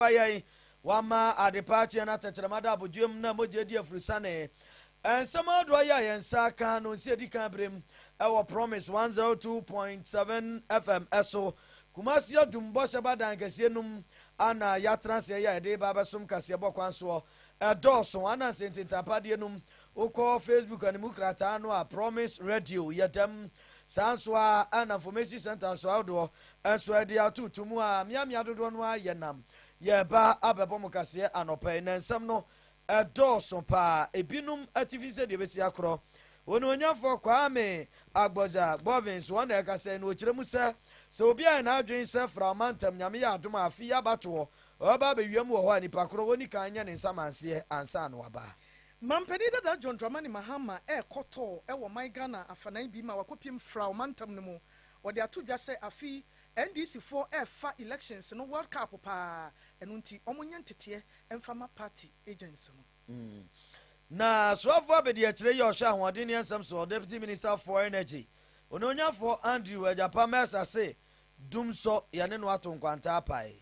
aboa yɛn. Wama adepa akyeɛ na tɛkyerɛma da abodwoeɛ mu na mogya adi afurusane. Nsɛm ahodoɔ yi a yɛn nsa aka no nsi adi kan berɛ mu wɔ Promise 102.7 FM so, Kumasi Adum Bɔhyɛ Ba Dan kɛseɛ no mu a na yɛatena ase ɛyɛ a yɛde reba abɛsom kaseɛbɔ kwan soɔ. Ɛdɔɔso ana nsɛ ntintampadeɛ no mu. Wokɔ Facebook animu krataa no a, Promise Radio yɛ dɛm. Saa nso ara na Information Centre nso ahodoɔ Nso ɛde ato to mu aa miamia dodoɔ no aa yɛ nam yɛɛba abɛbɔ mo kaseɛ anɔpa yi na nsɛm no ɛdɔɔso paa ebinom atifi sɛdeɛ ɛbɛsi akorɔ Onimuonyamfoɔ Kwame Agbodza Gbɔvin so ɔna ɛkasa yi na ɔkyerɛ mu sɛ sɛ obi ayɛ n'adwene sɛ fra ɔmantam Nyame yɛ adom a afe yi abatoɔ ɔbɛba abɛwia mu wɔ hɔ a nipa korɔ ɔni kan nyɛ ne nsamanseɛ ansa na waba. Mampanin dada John Dramani Mahama ɛɛkɔtɔ wɔ ɔman Ghana afanan bi ma wakɔpiem fra ɔmantam no mu Wɔde ato dwa sɛ afe yi NDC foɔ refa elections no world cup paa, ɛno nti wɔnyɛ nteteɛ mfa ma party agents no. Na Soafoɔ Abadiakyire yi a ɔhwɛ ahoɔden ne nsɛm soɔ, Deputy Minister for Energy, Onuonyafoɔ Andrew Agyapa Mensah se, Dumsɔ yɛne no ato nkwanta apae.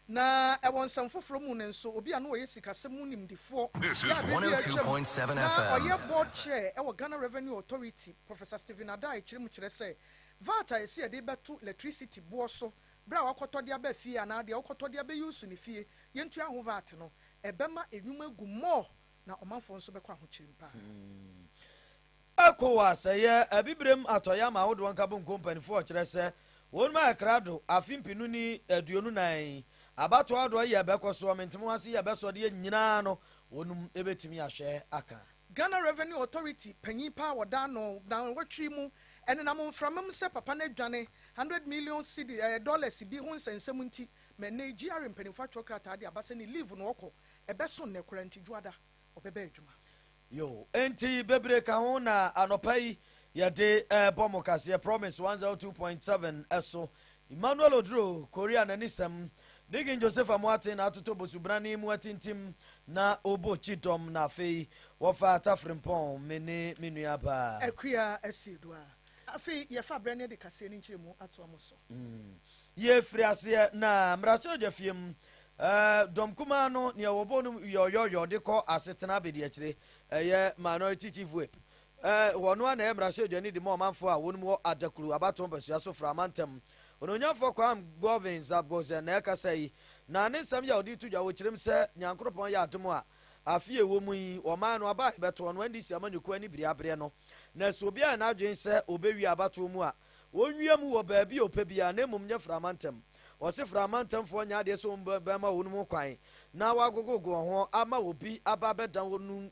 Na wɔ nsɛm foforo mu no nso, obi a na ɔyɛ sikasɛm mu nimdefoɔ yɛ adeɛ bi a atwam na ɔyɛ board chair wɔ Ghana Revenue Authority, Professor Stephen Addae kyerɛ mu kyerɛ sɛ, vat a yɛse yɛde rebɛto lɛtrisiti boɔ so berɛ a woakɔtɔ de aba fie anaa deɛ wokɔtɔ de abɛyuusu no fie, yɛntua ho vat no, ɛbɛma nnwuma agu mmɔɔ na ɔmanfoɔ nso bɛkɔ ahokyere'm paa. Ecowas yɛ Abibirem Atɔeɛ Aman Ahodoɔ Nkabomkuo Mpaninfoɔ kyerɛ sɛ wɔn mu ayɛ krado afe mpenu ne aduonu nan yi abatoɔ ahodoɔ yɛ bɛkɔ soɔ mentemo ho ase yɛ bɛsɔ deɛ nyinaa no wɔnum ɛbɛtumi ahwɛ aka. Ghana Revenue Authority panyin paa wɔda ano nanwɔtwe mu ɛnenam mframa mu sɛ papa no adwane hundred million cedi ɛyɛ dollars bi ho nsɛnsɛm nti ma ɛnnɛ yi GRA mpaninfoɔ atwerɛ krataa de aba sɛ ne leave no ɔkɔ ɛbɛso nnɛ koraa nti dwoada ɔbɛbɛ adwuma. Yoo enti bebree ka ho na anɔpa yi yɛde ɛɛbɔ mo kaseɛ promise 102.7 ɛso Emmanuel Oduro Korea n'ani sɛm Digin Joseph Amoaten na atoto bosubrane mu atintim na obo kyi dɔm na afei wɔfa Tafrempɔn me ne me nua baa. Akua Asiedu a afei yɛfa berɛ no de kaseɛ no nkyerɛmu atoa mo so. Yɛfiri aseɛ na Mmarahyɛbadwafie mu Ɛɛ dɔm kumaa no neɛ wɔbɔ no yɔɔyɔɔyɔɔ de kɔ asetena abadiakyire ɛyɛ minority chief whip ɛɛ wɔn ara na ɛyɛ mmarahyɛbadwani de ma ɔmanfoɔ a wɔn mu wɔ adakuru abatoɔ mpasua so fra amantam onuonyanfoɔ Kwam Govin Zabgozen na ɛkasa yi na ne nsɛm yɛ a ɔde to dwa wɔ kyerem sɛ Nyankoropɔn yɛ adom a afe yɛ wɔ mu yi wɔmaa no aba a ɛbɛtoɔ no NDC amanyɔkuo ani bere aberɛ no na ɛsɛ obiara yɛ n'adwene sɛ ɔbɛwie abatoɔ mu a Wɔnwia mu wɔ baabi a ɔpɛ biara, na mmom nyɛ frama ntɛm. Ɔse frama ntɛmfoɔ nyɛ adeɛ sɛ wɔn bɛma wɔn mu kwan na wɔagogogo wɔn ho ama obi aba abɛda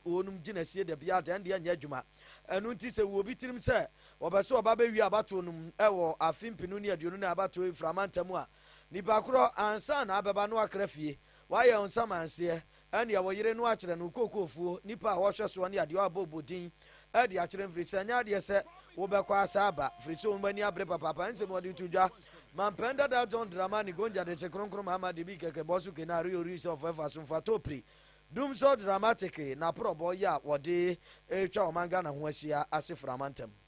wɔn gyinasie da biara dɛn deɛ ɛnyɛ adwuma. Ɛno nti sɛ ɛwɔ obi tirim sɛ ɔpɛ sɛ ɔba bɛwia abatoɔ no mu wɔ afe mpenu ne aduonu nan abatoɔ yi frama ntɛm a, nipa korɔ ansa na abɛba na wakra fie, wayɛ ɔnsamanseɛ, Ɛnneɛ wo yere no akyerɛ no wo kookoofoɔ, nnipa a wɔhwɛ soɔ ne adeɛ a wɔabɔ bɔ din de akyerɛ mfiri sɛ ɛnyɛ adeɛ sɛ wobɛkɔ asa aba, firi sɛ wɔn ani abere papaapa ɛnsɛ mu wɔde to dwa. Mampɛn Dada John Dramani Gonja Dese Kronkron Mahama Debi Keke Bosu Kene Ari Ori Sɛ Ɔfɔ Ɛfa So Mfa To Pri Dum So Dramatiki N'aporɔbɔ Yɛ A Wɔde Retwa Ɔman Ghana Ho Ahyia Ase Firi Amantam.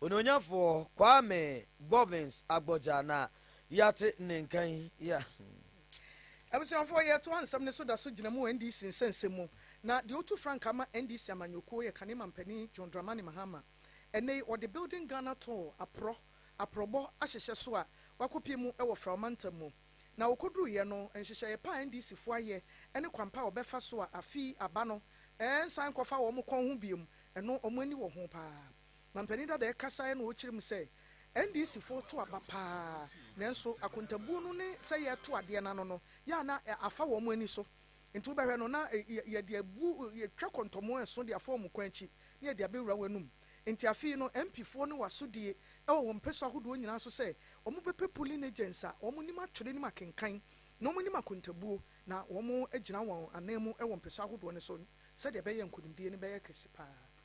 Onuonyafoɔ Kwame Bovins Agbodza na yɛate ne nka yi a. Abusuafoɔ, yɛtoa nsɛm no so da so gyina mu wɔ NDC nsɛnsɛm mu, na deɛ ɔtu frankaa ma NDC amanyɔkuo yɛ Kane Mampanin John Dramani Mahama. Ɛnnɛ yi, ɔde Building Ghana Tall aporɔ aporɔbɔ ahyehyɛ so a wakɔpie mu wɔ Frao Mantam mu. Na ɔkɔduruiɛ no, nhyehyɛeɛ pa a NDCfoɔ ayɛ ne kwan pa a wɔbɛfa so a afe yi aba no, ɛrensan nkɔfa wɔn kɔn ho bio, ɛno wɔn ani wɔ ho pa ara. Mampanin Dadaa kasaeɛ na ɔkyerɛ mu sɛ NDC foɔ to aba pa ara nanso akontabuo no ne sɛ yɛreto adeɛ no ano no yɛ a na afa wɔn ani so nti wobɛhwɛ no na yɛde abu yɛtwa kɔntɔmo ɛso de afa wɔn kwan akyi na yɛde abɛwura wɔn anum nti afei no MP foɔ no wɔ asodie wɔ wɔn mpɛsu ahodoɔ nyinaa so sɛ wɔbɛpɛ polling agents a wɔnim atwerɛ nim akenkan na wɔnim akontabuo na wɔagyina wɔn anan mu wɔ mpɛsu ahodoɔ no so sɛdeɛ ɛbɛyɛ nkonimdie no bɛyɛ kɛse pa ara.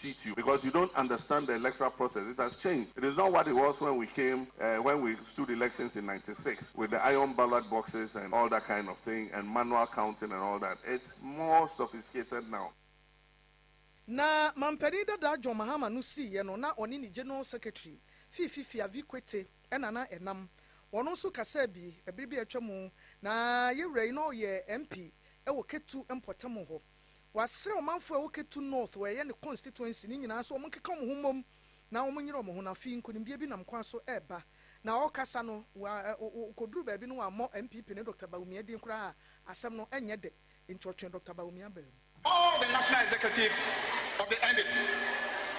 cheat you because you don't understand the electoral process it has changed it is not what it was when we came uh, when we stood elections in 96 with the iron ballot boxes and all that kind of thing and manual counting and all that it's more sophisticated now. Na mampanin dadaa John Mahama no siiɛ no na ɔne ne General Secretary Fifi Fiavi Kwete ɛna na ɛnam. Ɔno nso kasaa bi ɛbere bi a atwa mu na yɛwura yi na ɔyɛ MP ɛwɔ Ketu mpɔtam hɔ. Wasrɛ ɔmanfo a ɛwɔ Ketu North wɔ ɛyɛ ne constituency no nyinaa sɛ wɔnkeka wɔn ho mmom na wɔnyera wɔn ho na afei nkonimdie bi nam kwan so reba. Na ɔrekasa no, wɔkɔduruu baabi no wɔammɔ MPP ne Dɔkta Bawumia din koraa a asɛm no nyɛ dɛ enti ɔtwee Dɔkta Bawumia baa mu. All the National Executive of the NDC.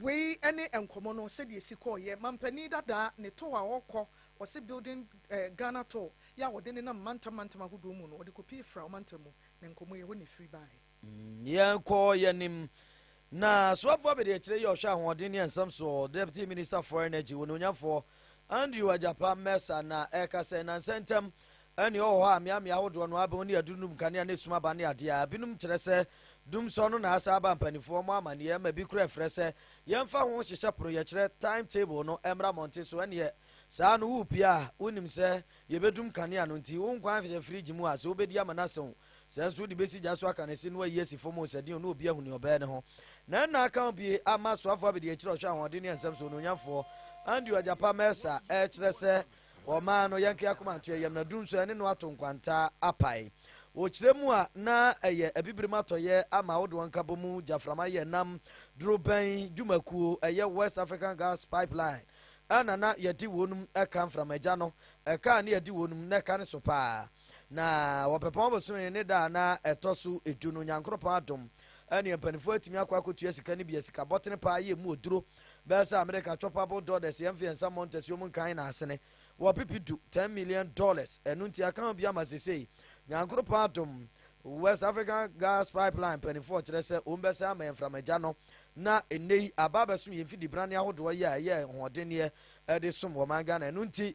Wei ne nkɔmmɔ no sɛdeɛ ɛsi kɔeɛ. Mampanin dadaa ne tour a ɔrekɔ, wɔse Building Ghana Tour, yɛ a wɔde nenam mantam mantam ahodoɔ mu no, wɔde kɔpie Fra ɔmantam mu, na nkɔmmɔ yi, ɛhɔ na ɛfiri baeɛ. Yɛnkɔ yɛn anim. Na Soafoɔ Abadiakyire yɛ Ɔhwɛ Ahoɔden ne Nsɛm Soɔ, Deputy Minister for Energy, Onuonyafoɔ Andrew Agyapah Mensah na ɛrekasa yi. Nnansa ntam, Ɛnne wɔ hɔ a mmeammea ahodoɔ no abɛn ne aduru no mu kanea ne sum aba ne adeɛ a binom kyerɛ sɛ dum sɔ no na asan aba mpaninfoɔ mo amanneɛ ɛma bi kora frɛ sɛ yɛmfa ho nhyehyɛ pono yɛkyerɛ time table no ɛmmra mmɔnten so ɛnneɛ saa no wo pia a wonim sɛ yɛbɛdum kanea no nti wo nkwa nhyehyɛ fridge mu a sɛ wobɛdi ama no asew sɛ nso wode bɛsi gya so aka no si no ayi asi fam sɛ deɛ na obi ahu ne ɔbɛɛ ne ho na ɛnna aka wo bie ama asoafoɔ abɛdi akyiri ɔhwɛ ahoɔden ne nsɛm so onuonyamfoɔ Andy Ɔgyapa Mɛsa ɛkyerɛ sɛ Wɔmaa no Yankee Akomantoɛ yam na du nso ɛne no ato nkwanta apae. Wɔ kyerɛ mu a na ɛyɛ Abibirim atɔeɛ ama ahodoɔ nkabɔ mu gyaframa yɛ nam dorobɛn dwumakuo ɛyɛ West African Gas Pipeline ɛna na yɛdi wɔnom ɛka mframagya no ɛka a ne yɛdi wɔnom na ɛka ne so paa. Na wɔpɛpɔn bosome ne da a na ɛtɔ so edu no, Nyankoropɔn adom ɛneɛ mpaninfoɔ atumi akɔ akɔtua sika no bi asika bɔtene paa yɛ mu oduro bɛyɛ sɛ Amerika choppable dollars yɛn fiyɛ nsa mmɔ ntasuo mu nkan na asene wɔ pipi du 10 million dollars ɛno nti aka ho bi ama sesei Nyankoropɔn adom West African Gas Pipeline mpaninfoɔ kyerɛ sɛ wɔn bɛsɛ ama yɛn mframagya no na nnɛ yi aba abɛsom yɛn fidi brane ahodoɔ yɛ a ɛyɛ hoɔdenneɛ ɛde som wɔ man Ghana ɛno nti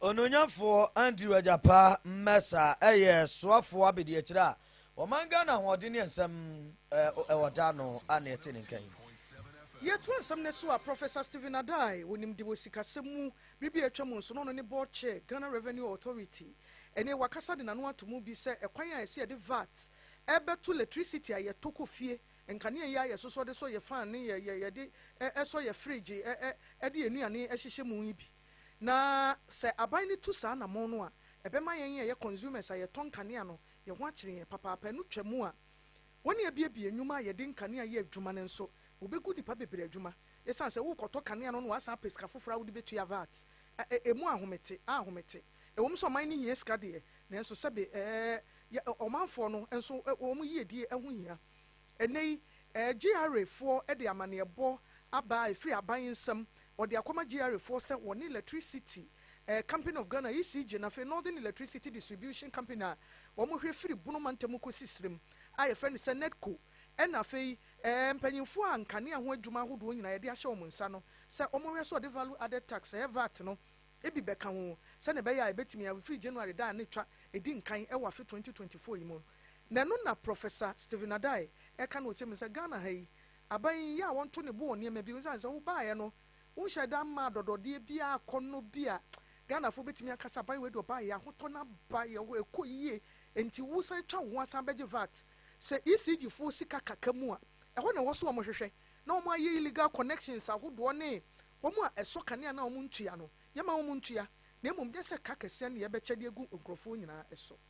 Onuonyamfoɔ Andrew Agyapaa Mensah yɛ soafoɔ abadiakyire a ɔman Ghana ahoɔden ne nsɛm wɔ da ano a na ɛte ne nka yi. Yɛtoa nsɛm no so a, Professor Stephen Addae wɔ nimde wɔ sikasɛm mu, bere bi a atwam nso na ɔno ne Board Chair Ghana Revenue Authority. Ɛnnɛ wakasa de n'ano ato mu bi sɛ ɛkwan a ɛsɛ yɛde vat bɛto lɛtrisiti a yɛtɔ kɔ fie, nkanea yi a yɛsosɔ de sɔ yɛn fan ne yɛde sɔ yɛn frigye de yɛn nnuane hyehyɛ mu yi bi. Na sɛ aban no tu saa anammɔn no a, ɛbɛma yɛn a yɛyɛ consumers a yɛtɔ nkanea no, yɛn ho akyere yɛn papaapa. Ɛno twa mu a, wɔn a abuebue nnwuma a yɛde nkanea yɛ adwuma no nso, wobegu nnipa bebree adwuma. Esiane sɛ worekɔtɔ kanea no na wɔasan apɛ sika foforo a wode betua vat a, emu ahomete a ahomete. Ɛwom sɛ ɔman no hia sika deɛ, nanso sɛbe ɛɛ, yɛ ɔmanfoɔ no nso wɔn yiyedie ho hia. Ɛnnɛ yi, GRA foɔ de amaneɛbɔ aba a ɛfiri aban nsam, wɔde akɔma GRA foɔ sɛ wɔne Electricity Company of Ghana, ECG, na afei Northern Electricity Distribution Company a wɔhwɛ firi Bono mantam kɔsi serem a yɛfrɛ no sɛ NEDCO na afei mpanyinfoɔ a nkanea ho adwuma ahodoɔ nyinaa yɛde ahyɛ wɔn nsa no sɛ wɔhwɛ so wɔde Value Added Tax, ɛyɛ vat no bi bɛka ho sɛdeɛ ɛbɛyɛ a ɛbɛtumi afiri January da a na ɛtwa ɛdi nkan wɔ afe twenty twenty four yi mu no. Na ɛno na Professor Stephen Addae ɛka no wɔ tire mu no sɛ Ghana ha yi, aban yi yɛ a wɔnto ne bo wɔ nneɛma bi ho esiane sɛ wobaeɛ no wonhyɛɛ da mmaa adɔdɔdeɛ biara akɔnnɔ bi a Ghanafoɔ bɛtumi aka sɛ aban wei deɛ ɔbaeɛ yɛ ahotɔ no aba yɛ hɔ ɛkɔ yie enti wosan atwa wo ho asan bɛgye vat sɛ ECG foɔ sika kaka mu a ɛhɔ na ɛwɔ so wɔn hwehwɛ na wɔn ayɛ illegal connections ahodoɔ ne wɔn a ɛsɔ kanea no a wɔn ntua no yɛma wɔn ntua na mmom nyɛ sɛ ka kɛseɛ ne yɛbɛkyɛ de agu nkurɔfoɔ nyinaa so.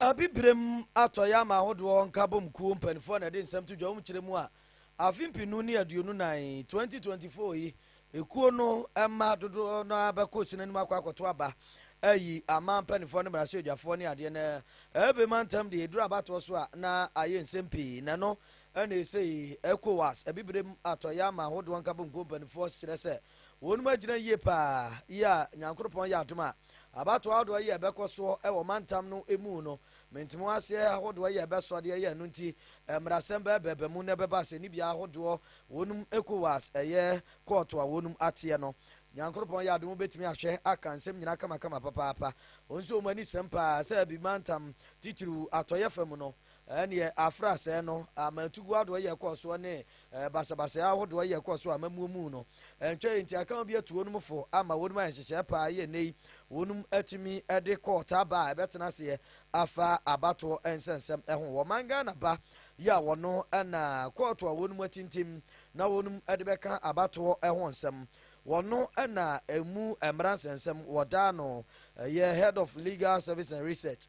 Abibirem atɔ yɛ ama Ahodoɔ Nkabom Kuo mpaninfoɔ na ɛde nsɛm to dwa wom kyerɛ mu a afe mpenu ne aduonu nan, 2024, yi ekuo no mma dodoɔ no ara bɛkɔ ɔsini anim akɔ akɔto aba ayi aman mpaninfoɔ ne mmarahyɛbdwafoɔ ne adeɛ na ɛbɛ ma ntɛm deɛ ɛduru abatoɔ so a na ayɛ nsɛm pii na ɛno ɛna ɛsei Ecowas Abibirem atɔ yɛ ama Ahodoɔ Nkabom Kuo mpaninfoɔ kyerɛ sɛ Wɔnom agyina yie paa yi a Nyankoropɔn yɛ adom a abatoɔ ahodoɔ yi a ɛbɛkɔ soɔ wɔ mantam no mu no mentemuho aseɛ ahodoɔ yi a ɛbɛsoɔ deɛ ɛyɛ ɛno nti mmarasɛm bɛɛbɛɛba mu na ɛbɛba asɛnnibea ahodoɔ wɔnom ECOWAS ɛyɛ kɔɔto a wɔnom ateɛ no Nyankoropɔn yɛ adom wobɛtumi ahwɛ aka nsɛm nyinaa kamakama papaapa wɔn nso wɔn ani sɛm paa sɛ bi mantam titiriw atɔeɛ fam no Ɛnneɛ afra asɛɛ no ama ntuguo adoɔyɛ kɔɔ soɔ ne basabasayɛ ahodoɔ yɛ kɔɔ so ama muomuu no. Ɛntwa yi nti akama bi atu wɔnom fo ama wɔnom ayɛ nhyehyɛɛ pa ara yɛ nnɛ yi wɔnom atumi de kɔɔ Taba a ɛbɛtena aseɛ afa abatoɔ nsɛnsɛm ho wɔ man Ghana ba yi a wɔno na kɔɔto a wɔnom atintim na wɔnom de bɛka abatoɔ ho nsɛm wɔno na ɛmu mmara nsɛnsɛm wɔdaa no ɛyɛ Head of Legal Service and Research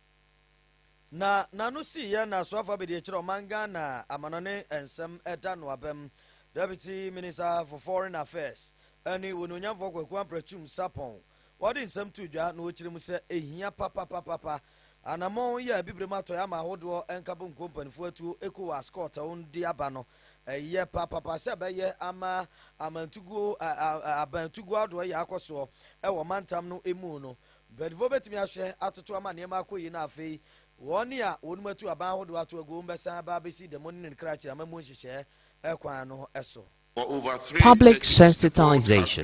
Na n'ano sii yɛn na soafa bɛdi akyerɛ ɔman Ghana amanɔne nsɛm ɛda no abam. Deputy Minister for Foreign Affairs ɛne Onuonyamfoɔ Kwaku Amprakyum Sarpong wɔde nsɛm too dwa na wɔkyerɛ mu sɛ ɛhia papapapapa anammɔn yi a Abibirem Atɔeɛ ama ahodoɔ nkabɔ nkuo mpanifoɔ atuo Ecowas kɔɔtɛw de aba no ɛyɛ papapa sɛ ɛbɛyɛ ama amantuguo abantuguo ahodoɔ yɛ akɔsoɔ ɛwɔ mantam no ɛmu no Mpanyimfo betumi ahwɛ atoto ama nneɛma akɔ yiye na afei wɔn a wɔnom atu aban ahodoɔ ato agu wɔn bɛsan aba abɛsi da mu ne ne kra akyiri amammuo nhyehyɛɛ kwan no so. Public sensitization.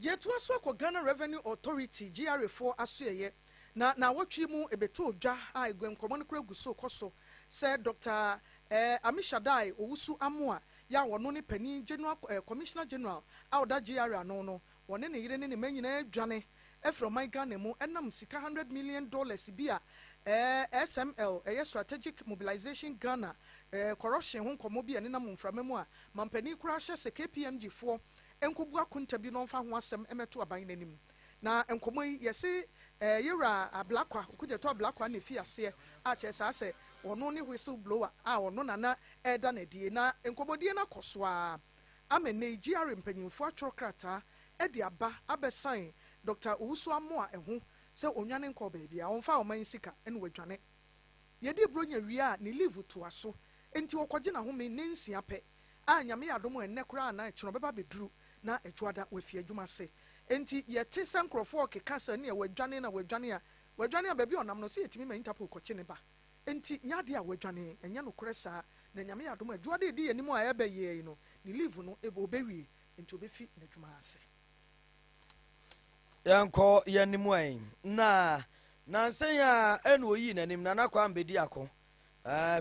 Yɛtoa so kɔ Ghana Revenue Authority, GRA, foɔ asoɛeɛ. Na naawɔtwe yi mu ɛbɛtɔɔ dwa a aguankɔmmɔ no koraa gu so kɔ so sɛ Dɔkta eh, Amishadae Owusu Amoah yi a ɔno ne panin General eh, Commissioner General a ɔda GRA ano no, ɔne ne yere ne ne mma nyinaa adwane afiri ɔman Ghana mu ɛnam sika hundred million dollars bi a eh, SML, ɛyɛ Strategic Mobilisation Ghana eh, corruption ho nkɔmmɔ bi a ɛnenam mframa mu a mampanin koraa hyɛ sɛ KPMG foɔ nkɔbu akonta bi na ɔmfa ho asɛm mmɛto aban no anim. Na nkɔmmɔ yi, yɛse ɛɛ yɛ wura Ablakwa, Okudzeto Ablakwa na efii aseɛ, a kyerɛ saa sɛ ɔno ne whistle blower a ɔno na na ɛreda no adie. Na nkɔmmɔdie no akɔ so ara ama nnɛ yi GRA mpanyimfoɔ atwerɛ krataa de aba abɛsan Dɔkta Owusu-Amoah ho sɛ ɔnnwane nkɔɔ baabiara, ɔmfa ɔman sika na wadwane. Yɛdi Bronya wie a, ne leave toa so, enti ɔkɔgye n'ahome nnansia pɛ. a Nyame yɛ adom ɛnnɛ koraa anaa ɛkyena ɔbɛba abɛduru na Dwoada wafi adwuma ase. Enti yɛte sɛ nkorɔfoɔ ɔkeka sɛ nea wadwane na wadwane a wadwane a baabi a ɔnam no sɛ yɛtumi ma Interpol kɔkye ne ba. Enti nyɛ adeɛ a wadwane. Ɛnyɛ nokorɛ saa. Na Nyame yɛ adom a Dwoada a ɛdi yɛn anim a ɛreba yi ara yi no ne leave no ɔbɛwie enti ɔbɛfi n'adwuma ase. Yɛnkɔ yɛn anim ɛ. Na nansa yi ara na ɔyii n'anim Nana Kwame Bediako,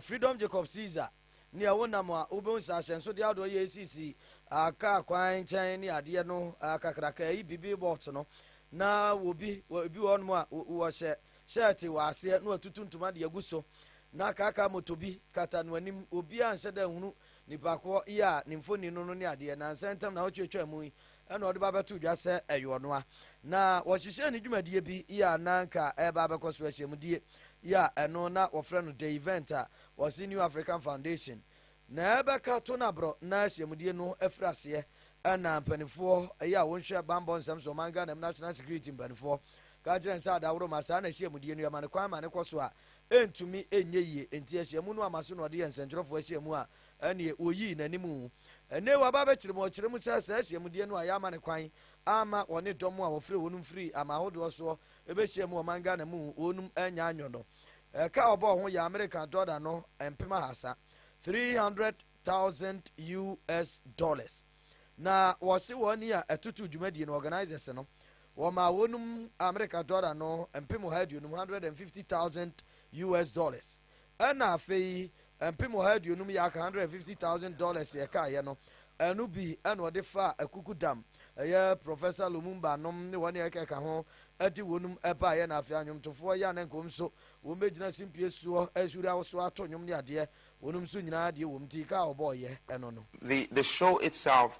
Freedom Jacob Caesar, nea wonam a wobehu nsase nsode ahodoɔ yɛ esisi a kaa kwan nkyɛn ne adeɛ no a kakraka ɛyi bibi box no na wɔbi wɔ ebi wɔ hɔnom a wɔhyɛ shirt wɔ aseɛ na watutu ntoma de agu so na kaka moto bi kata no anim obiara nhyɛ da nhunu nipa koɔ yi a ne mfoni no no ne adeɛ nansa ntam na wotwatwa mu yi ɛna ɔde ba bɛto dwa sɛ ɛyɛ ɔno a na wɔhyehyɛ ne dwumadie bi yɛ a na nka ɛreba abɛkɔ so ahyɛmudie yɛ a ɛno na wɔfrɛ no the event a Wɔse New African Foundation na ɛbɛka to na borɔ na ahyiamudie no afiri aseɛ ɛna mpanifoɔ ɛyɛ a wɔnhwɛ banbɔ nsɛm so ɔman Ghana mu national security mpanifoɔ ka kyerɛ nsa adaworo ma saa na ahyiamudie no yɛma no kwan ma ne kɔ so a ɛntumi ɛnyɛ yie enti ahyiamu no ama so na ɔde yɛ nsɛntwerɛfoɔ ahyiamu a ɛneɛ wɔyii n'animu ɛne wɔaba bɛkyerɛ mu ɔkyerɛ mu sɛ saa ahyiamudie no a yɛama ne kwan ama wɔne dɔm a wɔfrɛ wɔn mfiri ama ahodoɔ soɔ ɛbɛhyia mu ɔman Ghana mu wɔnom anya anyɔ no Ɛka a ɔbɔɔ ho yɛ Amerika dɔla no mpem ahasa, 300,000 US dollars. Na wɔse wɔn ni a ɛtoto dwumadie no, organisers no, wɔmaa wɔnom Amerika dɔla no mpem ɔha aduonum, 150,000 US dollars. Ɛna afei Mpem ɔha aduonum yak, $150,000, dollars a ɛkaeɛ no, ɛno bi na ɔde faa akuku dam, ɛyɛ Professor Lumumba nom ne wɔn a ɛkeka ho, ɛde wɔnom baeɛ, na afei anwomtofoɔ yi a na nka wɔn nso wɔbɛgyina simpie soɔ ahuri awosoɔ ato nnwom ne adeɛ, wɔnom nso nyinaa deɛ wɔn ti ka a wɔbɔeɛ no no. The the show itself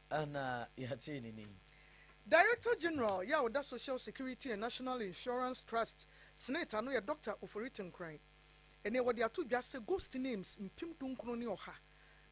Ana yɛatee no nnɛ yi? Director General yɛ a ɔda Social Security and National Insurance Trust Senate ano yɛ Dɔkta Ofori Tenkoran ne wɔde ato dwa sɛ ghost names mpem dunkron ne ɔha,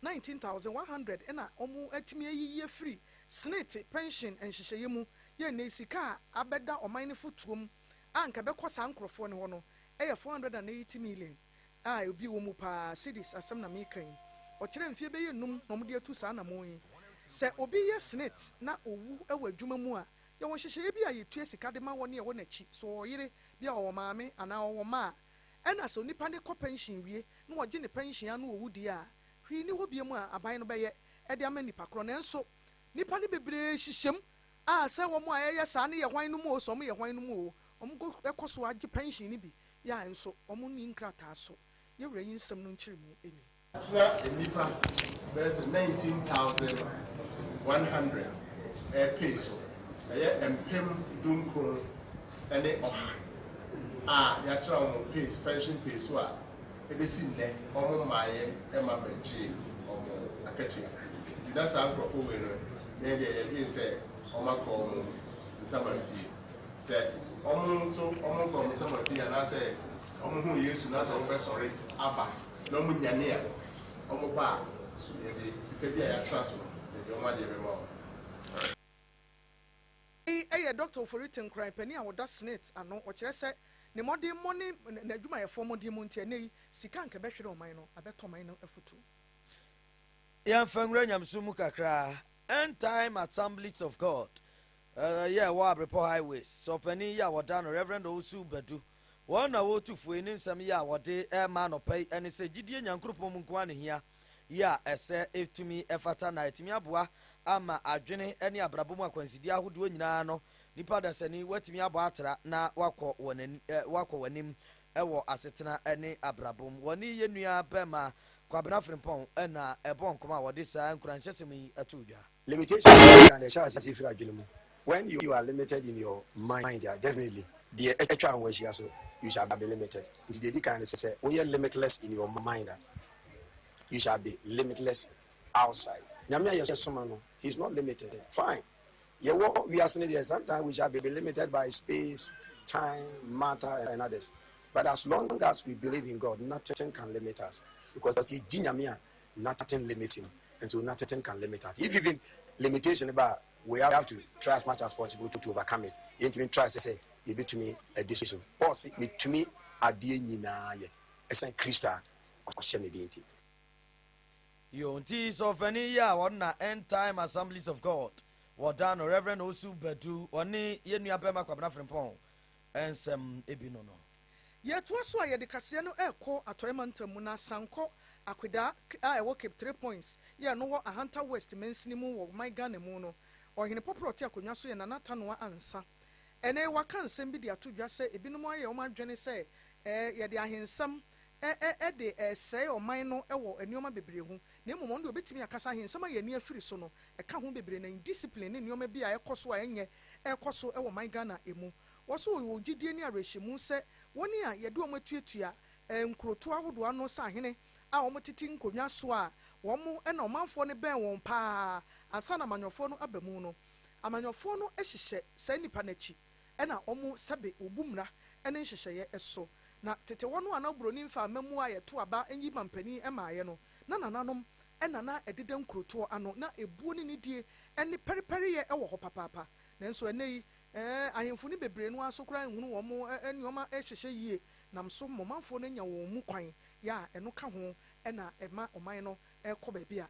nineteen thousand one hundred, na wɔatumi ayiyi afiri Senate pɛnhyen nhyehyɛeɛ mu yɛ nnɛ yi sika a abɛda ɔman no fotuom a anka ɛbɛkɔ saa nkorɔfoɔ no hɔ no yɛ four hundred and eighty million. a obi wɔ mu paa, Sidis asɛm na meka yi. Ɔkyerɛ mfeɛ bɛyɛ nnum na wɔde atu saa anammɔn yi. Sɛ obi yɛ snit na ɔwu wɔ adwuma mu a, yɛwɔ nhyehyɛeɛ bi a yɛtua sika de ma wɔn a ɛwɔ n'akyi. Sɛ ɔwɔ yere, bia ɔwɔ maame anaa ɔwɔ mma a, ɛna sɛ onipa no kɔ pɛnhyen wie na wɔgye ne pɛnhyen ara na ɔwu deɛ a, hwee nni hɔ biom a aban no bɛyɛ de ama nipa korɔ. Nanso nnipa no bebree hyehyɛm a sɛ wɔn a ɛyɛ saa no yɛ hwan no mu o, sɛ wɔyɛ hwan no mu o, wɔkɔ so ara gye pɛnhyen no bi Yah nso, wɔnni nkrataa so. Yɛn Wura yi nsɛm no nkyerɛmu ni. Atena nnipa bɛyɛ sɛ nineteen thousand one hundred repay so, ɛyɛ mpem dunkron ne ɔha a yɛatena wɔn pay, pension pay so a ɛbɛsi nnɛ wɔn mmaeɛ mma bɛgyee wɔn akatua. Nti na saa nkorɔfoɔ wei no, yɛn deɛ yɛdwene sɛ wɔn akɔ wɔn nsaman fie. Sɛ wɔn nso wɔn nkwa wɔn nsam afi anaasɛ wɔn huu Yesu na sɛ wɔbɛsɔre aba na wɔn nyane a, wɔn ba a, yɛde sika bi a yɛatra so no yɛde wɔn adeɛ bɛma wɔn. Wei yɛ Dɔkta Ofori Tenkoran, panin a ɔda Senate ano. Ɔkyerɛ sɛ ne mmɔdemmɔ ne n'adwumayɛfoɔ mmɔdemmɔ nti, ɛnnɛ yi, sika a anka ɛbɛhwere ɔman no, abɛtɔ man no afutuo. Yɛmfa nwura nyamesom mu kakra. End Time Assemblies of God yɛ ɛwɔ Abrepɔ Highways sɛ ɔpanin yi a wɔda no Rev. Owusu Badu wɔn na wɔretu fo yi ne nsɛm yi a wɔde rema anɔpa yi ɛne sɛ gyidie Nyankoropɔn mu nko ara na ɛhia yi a ɛsɛ ɛtumi ɛfata na ɛtumi aboa ama adwene ne abrabɔ mu akwansideɛ ahodoɔ nyinaa no nipa dasani watumi abɔ atra na wakɔ wɔn anim wɔ asetena ne abrabɔ mu. Wɔne yɛn nua bɛma Kwabena Frimpong na ɛbɔɔ nkɔmmɔ a wɔde saa nkuranhyɛsɛm yi too dwa. Limitations no nyinaa na ɛhyɛ aseɛ firi adwene mu, when you are limited in your mind a, definitely deɛ atwa ho ahyia nso, you shall be limited. Nti deɛ ɛdi kan ne sɛ, sɛ woyɛ limitless in your mind a, you shall be limitless outside. Nyame a yɛsom no, he is not limited, fine. Yɛwɔ wiase no deɛ sometimes we shall be limited by space, time, matter and others but as long as we believe in God nothing can limit us because yɛgye Nyame a nothing limit him and so nothing can limit us if even limitation ba a we have to try as much as possible to, to overcome it yɛntumi try sɛ sɛ yɛbɛtumi adi so Paul se metumi adeɛ nyinaa yɛ ɛsan Kristo a ɔhyɛ me den nti. Yo, nti sɛ ɔfani yi a wɔn na End Time Assemblies of God wɔda no Reverend Osu Badu ɔne yɛn nua bɛma Kwabena Frimpong nsɛm bi no no. Yɛtoa so a yɛde kaseɛ no rekɔ Atɔeɛ Mantam mu na asan kɔ Akwedaa a ɛwɔ Cape Three Points yɛ ɛno wɔ Ahanta West mansini mu wɔ ɔman Ghana mu no. Ɔhene pɔporɔ a ɔte akonnwa so yɛ Nana Atanoa Ansa. Ɛnɛ yi waka nsɛm bi de ato dwa sɛ ebinom ayɛ wɔn adwene sɛ yɛde ahensɛm ɛ-ɛ-ɛ de ɛresɛe ɔman no wɔ nneɛma bebree ho, na mmom ɔno deɛ ɔbɛtumi akasa ahe nsɛm a yɛn ani afiri so no, ɛka ho bebree, na indiscipline ne nneɛma bi a ɛkɔ so a ɛnyɛ ɛrekɔ so wɔ ɔman Ghana mu. Wɔso wɔ wɔ gyidie ne awerɛhyɛmu sɛ wɔn a yɛde wɔn atuatua ɛ, nkurotoɔ ahodoɔ ano nsahene a wɔtete nkonnwa so a wɔn na ɔmanfoɔ no bɛn wɔn pa ara ansa na amanyɔfoɔ no aba mu no, amanyɔfoɔ no hyehyɛ saa nnipa no akyi. na wɔn sɛbe wɔbu mmara ne nhyehyɛeɛ so. Na tete hɔ no a na oburoni mfa amammuo a yɛto aba nyi ma mpanin mmaeɛ no, na nananom na na ɛdeda nkurotoɔ ano. Na ebuo ne nidie ne pɛrepɛreyɛ wɔ hɔ papaapa. Nanso ɛnnɛ yi, ahemfo no bebree no ara nso koraa nhunu wɔn nneɛma hyehyɛ yie nam so ma ɔmanfoɔ no anya wɔn mu kwan. Yɛ a ɛno ka ho na ɛma ɔman no kɔ baabi a.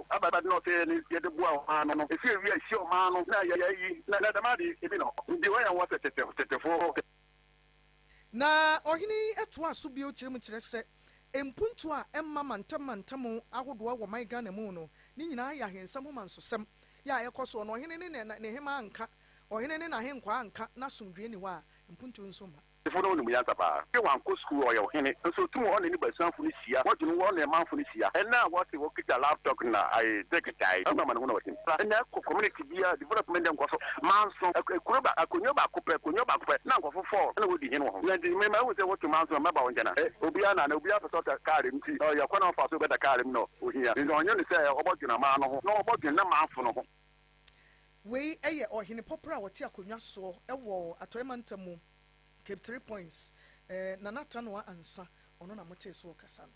Abɛda no ɔsɛ yɛne yɛde boa ɔmaa no no, ɛsɛ ɛwia ɛhyia ɔmaa no na yɛyɛ ayi na na dɛm ade ɛbi no nti ɔyɛ nwa sɛ tete tetefoɔ. Na ɔhene yi toaa so bio kyerɛ mu kyerɛ sɛ mpuntuo a ɛmma mantam mantam ahodoɔ wɔ ɔman Ghana mu no ne nyinaa yɛ ahensɛm ho mansosɛm yɛ a ɛkɔ soɔ na ɔhene ne ne hemaa nka, ɔhene ne n'ahenkwaa nka na asomdwoeɛ nni hɔ a mpuntuo nso mma. Gyefo no nim nyansa paa. Dɛ ɔannkɔ skuul a, ɔyɛ ɔhene, nso otum ɔne ne basuafo no hyia, wɔdwen wo, wɔne manfo no hyia. Nna a wɔtse hɔ kitsa laptop na dzek gyae ɔno amanehun a ɔtse mu. Nna kɔ community biara development dɛ nkɔso manson, kurow ba, akonwa baako pɛ, konwa baako pɛ, na nkorɔfo four na wodi hen wɔ ho. Ntsi me mahu dɛ wɔto manson a, mɛba wo nkyɛn a. Obiara na na obiara pɛ sɛ ɔda kaar mu, ntsi ɔyɛ kwan a ɔfa so bɛda kaar mu na ohia. Ntsi ɔnye no sɛ ɔbɔdwen aman no ho na ɔbɔdwen n'amanfo no ho. Wei yɛ ɔhene pɔprɔ a ɔte akonnwa soɔ wɔ Atɔeɛ Mantam mu, Cape Three Points. Nana Atta Noah Ansa, ɔno na motee so ɔkasa no.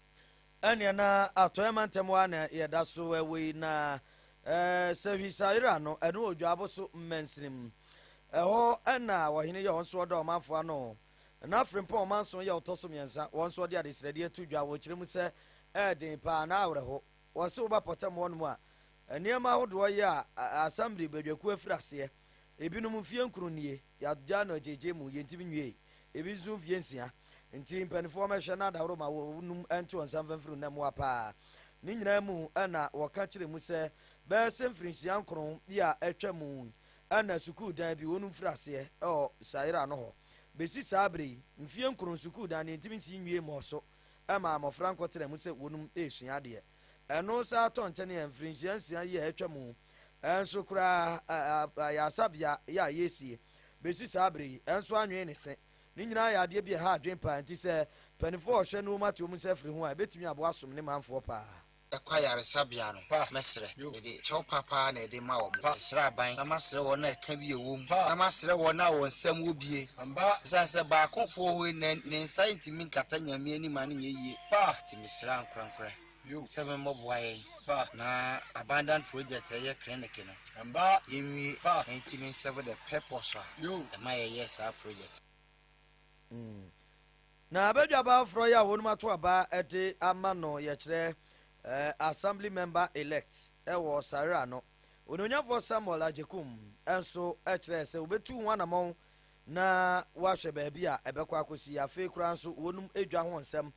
Ɛneɛ na Atɔeɛ Mantam hɔ ara na yɛda so wɔ yi, na sɛ Hwisaira no, ɛno wɔ Dwaabo so mansini mu. Ɛhɔ na ɔhene yɛ, ɔno nso ɔda ɔmanfoɔ ano. Na Frimpong ɔmanson yɛ ɔtɔ so mmiɛnsa, wɔn nso wɔde adesrɛdeɛ to dwa, wɔkyerɛ mu sɛ ɛyɛ den pa ara, na awerɛho. Wɔse woba pɔtam hɔ nom a, nneɛma ahodoɔ yɛ a, assembly badwakuo afiri aseɛ. Ebinom mfie nkron nie, yɛagyaa no agyeegyee mu, yɛntimi nwiei. Ebi nso mfie nsia. Nti mpaninfoɔ wɔmɛhwɛ na daworo ma wɔ nom nto wɔn nsa mfa mfiri na mmoa pa ara. Ne nyinaa mu na wɔka kyerɛ mu sɛ bɛyɛ sɛ mfirinhyia nkron bi a atwa mu na sukuu dan bi wɔnom firi aseɛ wɔ Sayra no hɔ. Besi saa bere yi, mfie nkron sukuu dan no yɛntimi nsi nwiei mmɔɔ so. ɛma mmɔfra nkɔtena mu sɛ wɔnom resua adeɛ. Ɛno saa tɔ nkyɛne a mfirinhyia nsia yi a atwa mu nso koraa ayaresabea yɛ a yɛresie bɛsi saa berɛ yi nso anwene ne se. Ne nyinaa yɛ adeɛ bi a ɛha adwene paa nti sɛ mpanifoɔ a ɔhwɛ ne wɔn ate wɔn nsa afiri ho a ɛbɛtumi aboa asom ne manfoɔ paa. ɛkɔ ayaresabea no, mɛsrɛ. Mede kyɛw pa paa na ɛde ma wɔn. Mesrɛ aban na masrɛ wɔn a ɛka bi a ɛwɔ mu, na masrɛ wɔn a wɔn nsam wɔ bie, esiane sɛ baakofo wɔ hɔ yi na ne nsa ntumi nkata Nyame anim a ne nyɛ yie nti, mesrɛ ankorankorɛ sɛ memmɔboa yɛn na abandoned project a ɛyɛ clinic no yɛnwie na yɛntumi nserve the purpose a ɛma yɛyɛɛ saa project no. Na abadwaba aforɔ yi a wɔnom ato aba de ama no yɛkyerɛ eh, Assembly Member Elect wɔ Sarera no Onuonyafoɔ Samuel Agyekum nso kyerɛɛ sɛ wɔbɛtu ho anamɔn na wɔahwɛ baabi a ɛbɛkɔ akɔsi afei koraa nso wɔnom dwa ho nsɛm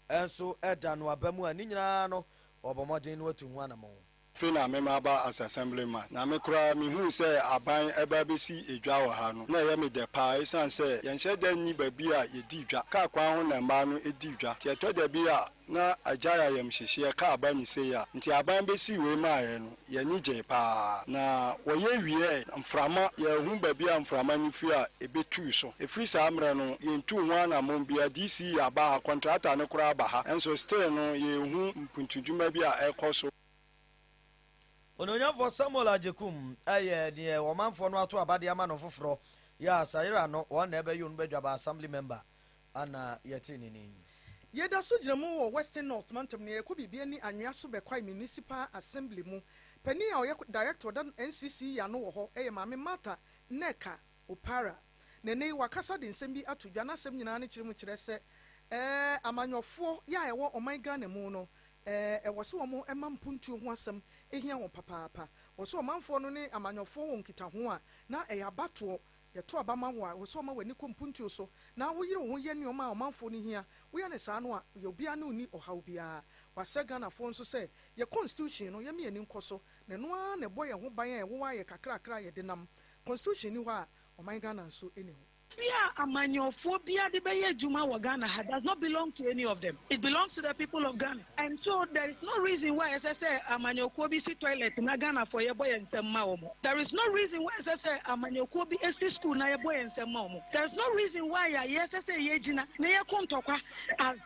nso da no aba mu a ne nyinaa no wɔbɔ mmɔden no atu ho anamɔn. Afei na me maba as assemblyman, na me koraa mehuu sɛ aban reba abɛsi dwa wɔ ha no, na ɛyɛ me dɛ paa ɛsiane sɛ yɛnhyɛ da nni baabi a yɛdi dwa, kaa kwan ho na mmaa no di dwa, nti ɛtɔ da bi a na agyae ayamhyehyeɛ, kaa ba ne sei a, nti aban bɛsii wei maeɛ no, yɛn ani gyee paa, na wɔyɛ wieeɛ no, mframa, yɛanhu baabi a mframa no firi a ɛbɛtuu so, ɛfiri saa mmerɛ no yɛntuu ho anammɔn biara, DC aba ha, kɔntrata no koraa aba ha, nso still no yɛnhu kuntudwuma bi a ɛrekɔ so. Onuonyamfoɔ Samuel Agyekum yɛ deɛ ɔmanfoɔ no ato aba de ama no foforɔ. Yɛ a Sayera no, wɔn na ɛbɛyɛ Onubadwaba Assembly member ana yɛte ne nin. Yɛda so gyina mu wɔ Western North mantam nea yɛkɔ biribi ani anwea so bɛ Kwae Municipal Assembly mu. Panin a ɔyɛ director ɔda NCC yi ano wɔ hɔ yɛ Maame Martha Nneka Opara. Na ɛnnɛ yi wakasa de nsɛm bi ato dwa, n'asɛm nyinaa ne kyerɛmu kyerɛ sɛ ɛɛ amanyɔfoɔ yɛ a ɛwɔ ɔman Ghana mu no ɛɛ ɛwɔ sɛ wɔn ɛma mpuntuo ho asɛm ɛhia wɔn papaapa. Wɔ sɛ ɔmanfoɔ no ne amanyɔfoɔ wɔ nkitaho a na ɛyɛ abatoɔ, yɛto aba ma wo a wɔ sɛ ɔma w'ani kɔ mpuntuo so na wo yere wo ho yɛ nnoɔma a ɔmanfoɔ no hia, wo yɛ no saa no a yɛ obiara ne wo nni ɔhaw biara. Wasrɛ Ghanafoɔ nso sɛ yɛ constitution no yɛ mia ani nkɔ so, na ɛno ara na ɛbɔ yɛn ho ban a ɛwowɔ a yɛ kakrakra a yɛde nam Constitution nni hɔ a ɔman Ghana nso nni hɔ. Bia amanyɔfoɔ biara de bɛyɛ adwuma wɔ Ghana ha does not belong to any of them. It belongs to the people of Ghana and so there is no reason why ɛsɛ sɛ amanyɔkuo bi si toilet na Ghanafoɔ yɛbɔ yɛn nsam ma wɔn. There is no reason why ɛsɛ sɛ amanyɔkuo bi si school na yɛbɔ yɛn nsam ma wɔn. There is no reason why a yɛsɛ sɛ yɛgyina na yɛko ntɔkwa as.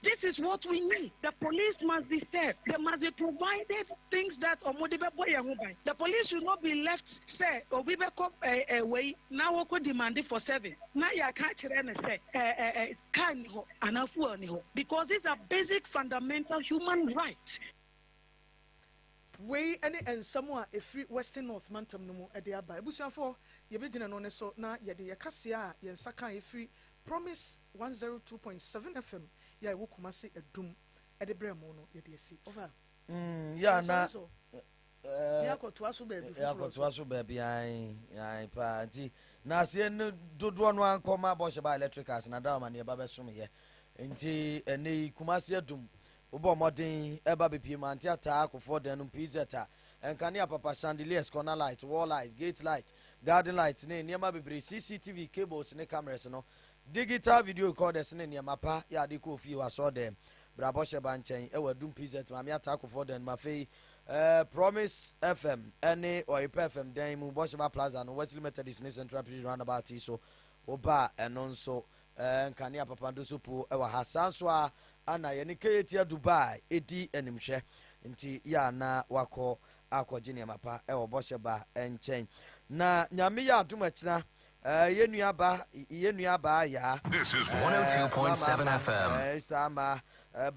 This is what we need, the police must be said, they must be provided things that ɔmo de bɛbɔ yɛn ho ban, the police should not be left sɛ obi bɛkɔ eh eh wei na wɔkɔ demande for service na yɛaka akyerɛ no sɛ eh eh eh car nni hɔ anaa fuel nni hɔ because these are basic fundamental human rights. Wei ne nsɛm a ɛfiri Western North mantam no mu de aba. Abusuafoɔ, yɛbɛgyina ɛno ne so na yɛde yɛn kaseɛ a yɛn nsa kaeɛ firi Promise one zero two point seven FM yɛ a ɛwɔ Kumasi adum de brɛ mo no yɛde asi. Ɔfa. Mm, ya na. Yɛnsɔre so. Eh, ne akɔtoa so baabi foforɔ so. Akɔtoa so baabi ae, ae paa. Nti, na aseɛ no dodoɔ no ankɔ ma abɔhyɛ ba electric ase na da ɔma ne ɛba bɛsom yɛ. Nti, ɛnɛ yi, Kumasi adum Wobɔɔ mmɔden ba bepie mu ante ataa akofoɔ dan no mu pz a, nkanea papa, chandeliers, corner light, wall light, gate light, garden light ne nneɛma bebree, CCTV cables ne cameras no, digital video recorders ne nneɛma pa yɛ ade kɔ ofie wɔ asɔɔdan mu. Bere a bɔhyɛ ba nkyɛn wɔ adum pz maame ataa akofoɔ dan no mu afei eh, Promise FM ne Ɔyepa FM dan mu, Bɔhyɛ ba Plaza no, Wesley Methodist ne Central Prison roundabout yi so wobaa ɛno nso Ɛɛ nkanea papa ndoso po ɛwɔ ha saa nso a ana yɛne Kayetia Dubai ɛdi animhwɛ nti yɛ a na wakɔ akɔgye nneɛma pa ɛwɔ bɔhyɛ ba nkyɛn na Nyame yɛ adom akyina ɛɛ yɛ nua ba yɛ nua baa yaa ɛɛ mama ɛɛ saa ma ɛɛ ba